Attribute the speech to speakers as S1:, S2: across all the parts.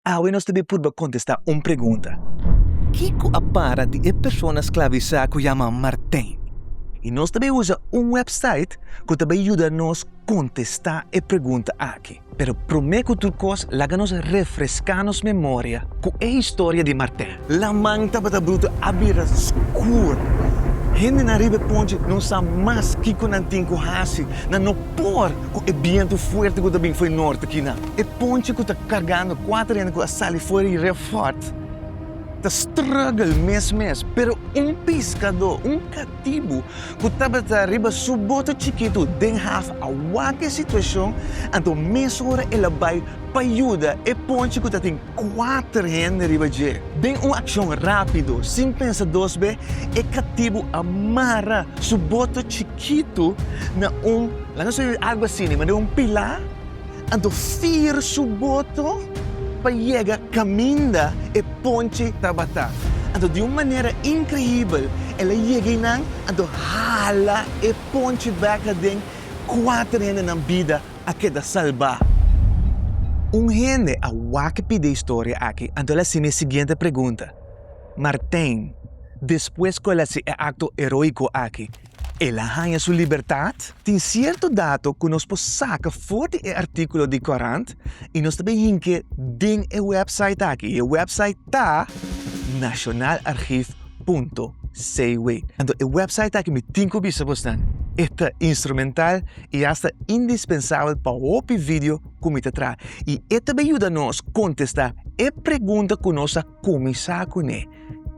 S1: Awe nos ta bin purba kontestá un pregunta. Kiko a para di e persona sklavisá ku yama Martijn? I nos ta bai usa un wèpsait ku ta bai yuda nos kontestá e pregunta aki. Pero promé ku tur kos laga nos refreská nos memoria ku e historia di Martijn. Laman tabata brutu a bira skur. Hendenan riba e ponchi no sa mas kiko nan tin ku hasi. Nan no por ku e bientu fuerte ku ta bin fo'i norte kina. E ponchi ku ta kargando kuater hende ku a sali for i refot ta struggle mes mes. Pero un piskadó, un katibu ku tabata riba su boto chikitu den haf a wak e situashon, anto mesora el a bai pa yuda e ponchi ku ta tin kuater hende riba dje. Den un akshon rápido, sin pensa dos be, e katibu a mara su boto chikitu na un, laga nos dibi algu asina, na un pilá, anto fir su boto pa yega kaminda e ponche tabata. Anto di un manera inkreíbel el a yega einan, anto hala e ponche bek aden kuater hendenan bida. a keda salbá. Un hende a wak pidi e historia aki anto el a simi e siguiente pregunta, Martijn, despues ku el a hasi e akto eróiko aki, el a haña su libertat? Tin sierto dato ku nos por saka for di e artíkulo di korant i nos ta bin hink'é den e wèpsait aki, i e wèpsait ta nationalarchief.cw. Anto e wèpsait aki mi tin ku bisa bo snan e ta instrumental i hasta indispensabel pa hopi video ku mi ta traha. I e ta bin yuda nos kontestá e pregunta ku nos a kuminsá kuné,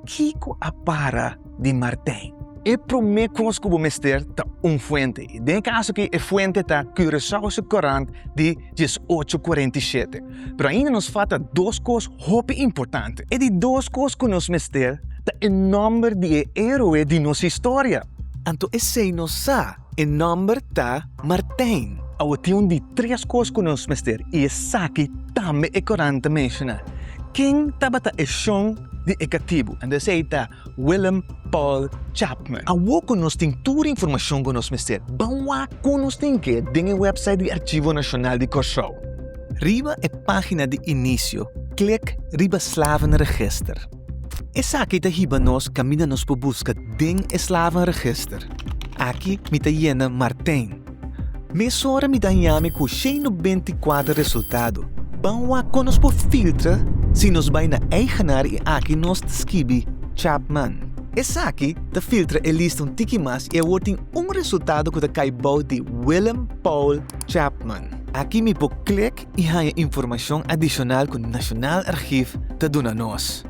S1: Kiko a para di Martin? E promé kos ku bo mester ta un fuente. I den e kaso akí e fuente ta Curaçao su Courant di dies ocho kuarenta i shete. Pero ainda nos falta dos kos hopi importante. E di dos kos ku nos mester ta e nòmber di e héroe di nos historia. Anto esei nos sa E nomber ta Martijn. Awa tin un di tres kos ku nos mester i esaki tambe e korant a menshona. Ken tabata e shon di e katibu? Ando esei ta Willem Paul Chapman. Awo ku nos tin tur informashon ku nos mester, ban wak kon nos tin ke den e wèpsait di Archivo Nacional di Kòrsou. Riba e página di inisio, klik riba Slavenregister. Esaki ta hiba nos kaminda nos por buska den e slavenregister. Aki mi ta yena Martijn. Mesora mi daña mi ku shei no benti kuater resultado. Ban wak kon nos por filtra si nos bai na Eigenaar i aki nos ta skibi Chapman. Esaki ta filtra e lista un tiki mas i awor tin un resultado ku ta kai bou di Willem Paul Chapman. Aki mi por klik i haña informashon adishonal ku Nashonal Argief ta duna nos.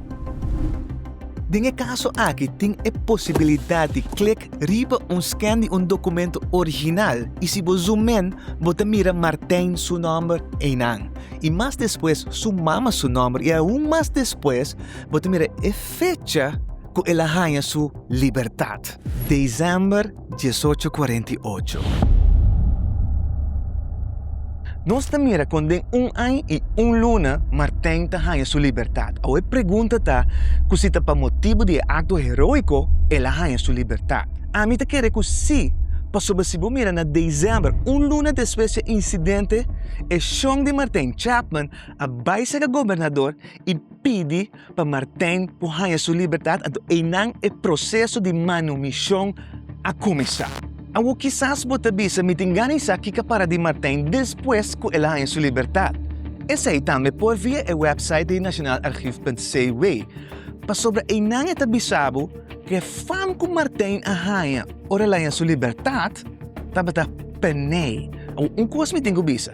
S1: Den e kaso aki tin e posibilidat di klik riba un skèn di un dokumentu original i si bo zoom in bo ta mira Martijn su nòmber einan i mas despues su mama su nòmber i aun mas despues bo ta mira e fecha ku el a haña su libertat, Desember Diesocho kuarenta i ocho. Nos ta mira kon den un aña i un luna Martijn ta haña su libertat. Awe pregunta ta ku si ta pa motibu di e akto heroiko el a haña su libertat. Ami ta kere ku si, pasobra si bo mira na desèmber, un luna despues di e insidente, e shon di Martijn Chapman a bai sega gobernador i pidi pa Martijn ku haña su libertat anto einan e proseso di manumishon a kuminsá. Awor kisas bo ta bisa, Mi tin gana di sa kiko a para di Martijn despues ku el a haña su libertat. Esei tambe por via e wèpsait di nationalarchief.cw. Pasobra einan e ta bisa bo ku e fam ku Martijn a haña ora el a haña su libertat tabata p'e nei. Awor un kos mi tin ku bisa.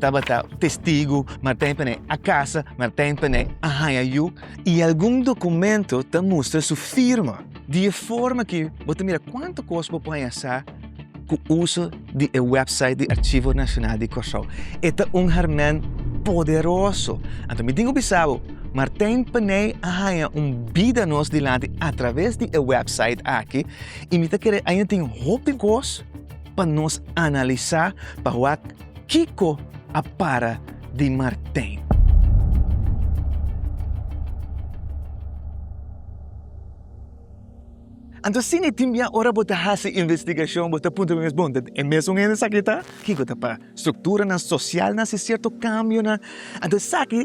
S1: Tabata testigu, Martijn p'e nei a kasa, Martijn p'e nei a haña yu. I algun dokumento ta mustra su firma. Di e forma ki bo ta mira kuantu kos bo por haña sa ku uso di e wèpsait di Archivo Nacional di Kòrsou. E ta un hèrmèn poderoso. Anto mi tin ku bisa bo, Martijn p'e nei a haña un bida nos dilanti atraves di e wèpsait aki i mi ta kere ainda tin hopi kos pa nos analisá pa wak. Kiko a para di Martin? Anto si mi tin bia ora bo ta hasi investigashon bo ta puntra bo mes bon ta e mesun hende esaki ta? Kiko ta pa strukturanan sosialnan si sierto kambionan anto esaki